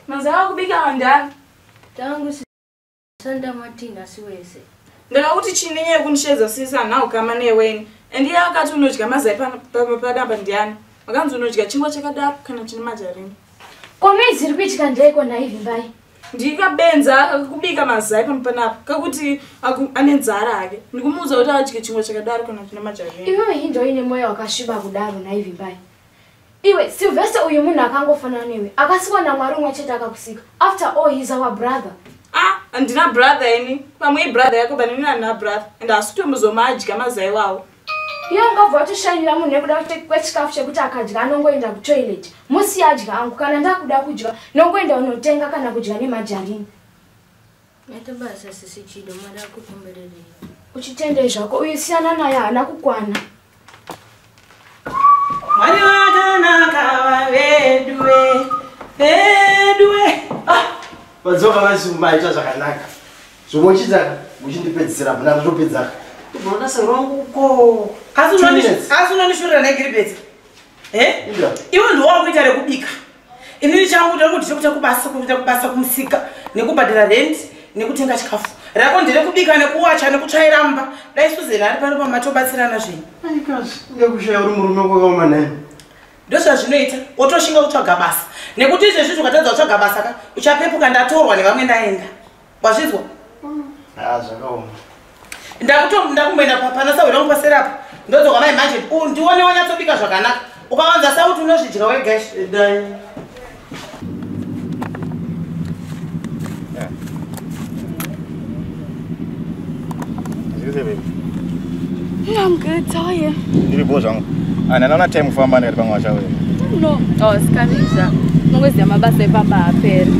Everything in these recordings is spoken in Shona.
Mazao kubika wandani. Tangu sanda matina siwese. Ndaka kuti chini nye kunisheza sisa na ukama ne weni. Endi ya wakati unojika mazai pa pa pa pa damba ndiani. Makanzi unojika chingwa chakadap kana chini majarini. Komezi rikuitika ndeko na hivi mbai. ndika benza kakubika mazai pano panapa kakuti ane nzara hake ndikumuudza kuti adye chingwa chakadaro kana kuti nemajavi iwewe hinda uine mwoyo wakasviba kudaro naivimbai iwe silvester uyu munhu akangofanana newe akasikwa namwari umwe chete akakusika after all he's our brother ah handina brother ini pamwe ibrother yako banini handina brother and hasi kutomuzoma adya mazai wawo iye ungabva watoshainira munhu nekuda kwechikafu chekuti akadya anongoenda kutoilet musi yadya angu kana ndakuda kudya nongoenda unotenga kana kudya nemajarini yatobasa sisi chido mwari akukombererei uchitendei zvako uyu siyana naye haana kukwana mwari vakanaka vaveduwe veduwe ah, vadzoka vazimbaita zvakanaka Zvomochita muchindipedzisira muna ndotopedza. Unoona soro wangu uko. Asi unonishurira naye Gilbert. Eh? Iwe ndiwo wakuita rekubika. Inini changu ndiri kuti chekuita kubasa kuita kubasa kumusika nekubhadhara rent nekutenga chikafu. Rako ndere kubika nekuwacha nekutsvaira mba. Dai Susan ari pano pamatobatsirana zvenyu. Aikazi, ndekushaya uri murume kwakaoma naye ndozvazvinoita wotoshinga kutsvaga basa nekuti izvezvi zvukatadza kutsvaga basa ka uchapepuka ndatorwa nevamwe ndaenda wazvinzwa ah, zvakaoma ndakutomda kumboenda papana sahwira wangu paseri apa ndodzoka mai manje ndione wanyatsopika zvakanaka ukawanza sauti unozvidya wega I'm good, how are you? Ndiri bho zvangu. And anaona time kufamba ndikati pamwe wachauya. No, I was coming zva. Mungoziva mabasa epamba haaperi.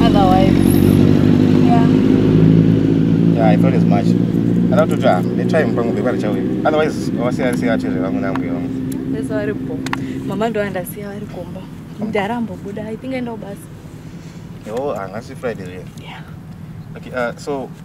Otherwise. Yeah. Yeah, I thought as much. Ana kutoti ah, ne time pangu bhebha richauya. Otherwise, wasiya siya chezve vangu nambuya vangu. Yes, vari bho. Mama ndo andasiya vari kumba. Mdara ambobuda, I think aenda kubasa. Yo, angasi ah, Friday riya. Yeah. Okay, uh, so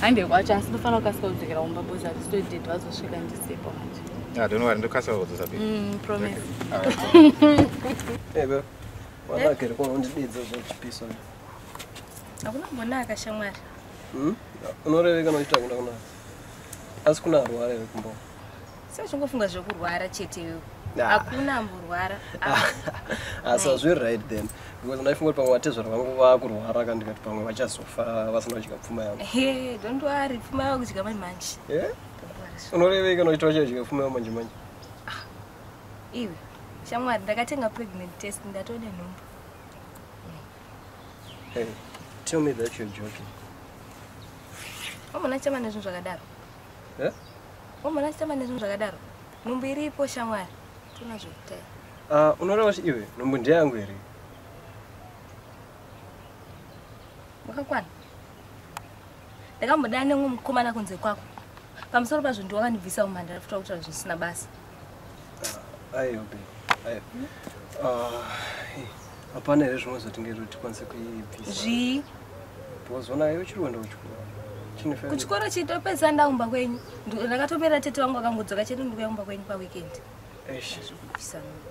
hange kwacho asi ndofanira kukasika kudzokera kumba bozi hatitoitete vazosvika ndisipo manje ah, donowari ndokasika kudzosa pe mm, promise ebe eh, wanakere kuno undididza zvechipiso hakuna mbonaka shamwari hmm? unoreveka nochita kuda kunaka asi kuna arwara ere kumbo sezvingofunga zvekurwara chete iwe Nah. hakuna amborwara asi hazviri right then because ndaifunga kuti pamwe vatezvara vangu vakurwara ka ndikati pamwe vachazofa vasina kudya pfuma yangu Hey, don't worry pfuma yavo kudya manje manje Eh? Don't worry. unorevei kana uchiti vachadya pfuma yangu manje manje iwe shamwari ndakatenga pregnant test ndatone nhumbu hey tell me that you're joking wamona chama nezvinhu zvakadaro Eh? Wamona achitamba nezvinhu zvakadaro. Nhumbu iripo shamwari. Tuna zvekuita. Ah, uh, unoreva kuti iwe nhumbu ndeyangu here? Wakakwana. Ndakamboda nemwe mukomana kunze kwako. Pamusoro pazvo ndiwakandibvisa umhandara futi wakutaura zvisina basa. hapana here zvimwe zvatingaita tikwanise kuibvisa zvii bozona iwe chiri kuenda kuchikoro kuchikoro chitopedza ndaumba kwenyu ndakatopera tete wangu akangodzoka chete ndikuyaumba kwenyu paweekend zvekubvisa mimba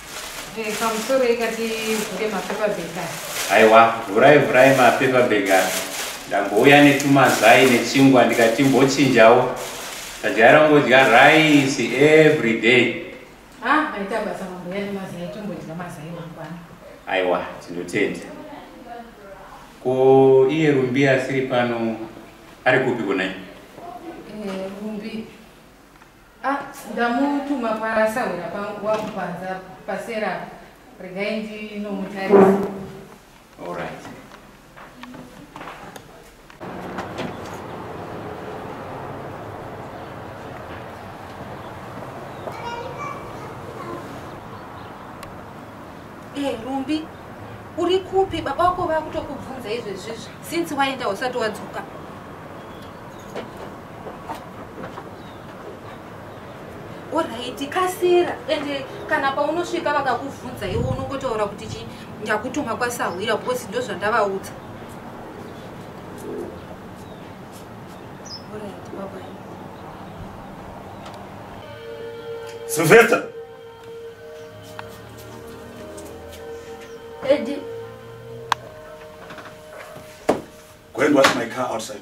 Eh, pamusoro ikati vhure mapaperbag aya aiwa vhurai vhurai mapaperbag aya ndambouya netumazai nechingwa ndikati mbochinjawo tajaira kungodya rice every day ah maita basa mambouya nemazai tombodya mazai mangwana aiwa tinotenda ko iye rumbi asiri pano ari kupi kunai eh, rumbi Ah, ndamutuma pasahwira pangu wangu panza pasera regai ndinomutarisa. All right. Eh, Rumbi, uri kupi? Baba wako vakutokubvunza izvezvizvi since waenda usati wadzoka. Alright, kasira ende kana paunosvika vakakuvhunza iwe unongotaura kuti chi ndakutuma kwasahwira because ndozvandavaudza. Sylvester. Eddie. Go and wash my car outside.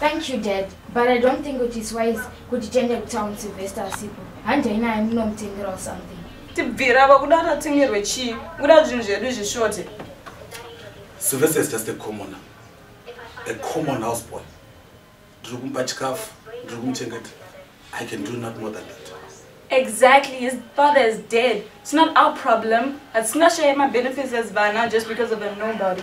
Thank you dad, but I don't think it is wise kuti tiende kutown Sylvester asipo. Handi haina amunomutengera or something. Tibvira vakuda tatengerwe chii? Kuda zvinhu zvedu zvishorte. Sylvester is just a commoner. A common house boy. Ndiri kumupa chikafu, ndiri kumuchengeta. I can do not more than that. Exactly, his father is dead. It's not our problem. It's not sharing my benefits as Vana just because of a nobody.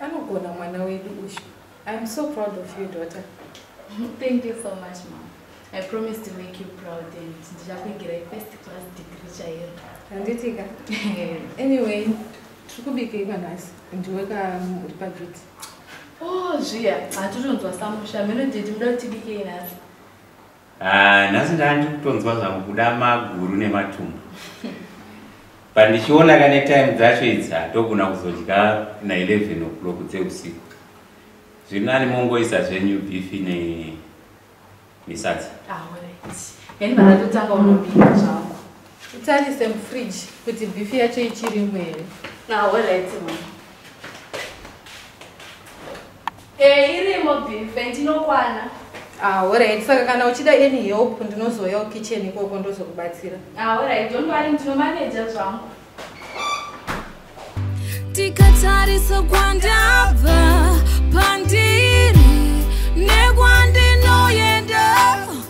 Anogona mwana wedu uyu. I am so proud of you daughter. Thank you so much mom. I promise to make you proud and ndichakuigira first class degree chaiyo. Handitika. anyway, tiri kubikei panhasi ndiwe ka uri paduty. Oh zviya, hatitonzwa samusha. Mino did muda kuti bikei nhasi. Ah, nhasi ndandi kutonzwa zvangu kuda maguru nematumbu but ndichiona kane time dzacho idzi hatogona kuzodya na 11 o'clock dzeusiku zviri nani mongoisa zvenyu beef ne misadza yani ah, vanatotanga unobika zvangu utarise mufridge kuti beef yacho ichirimo here ah, Eh, irimo beef and inokwana. Ah, alright. Saka kana uchida any help ndinozouya kukitchen ikoko ndozokubatsira. Ah, alright. Don't worry, ndinomanager zvangu. Tikatarisa kwandabva pandiri nekwandinoyenda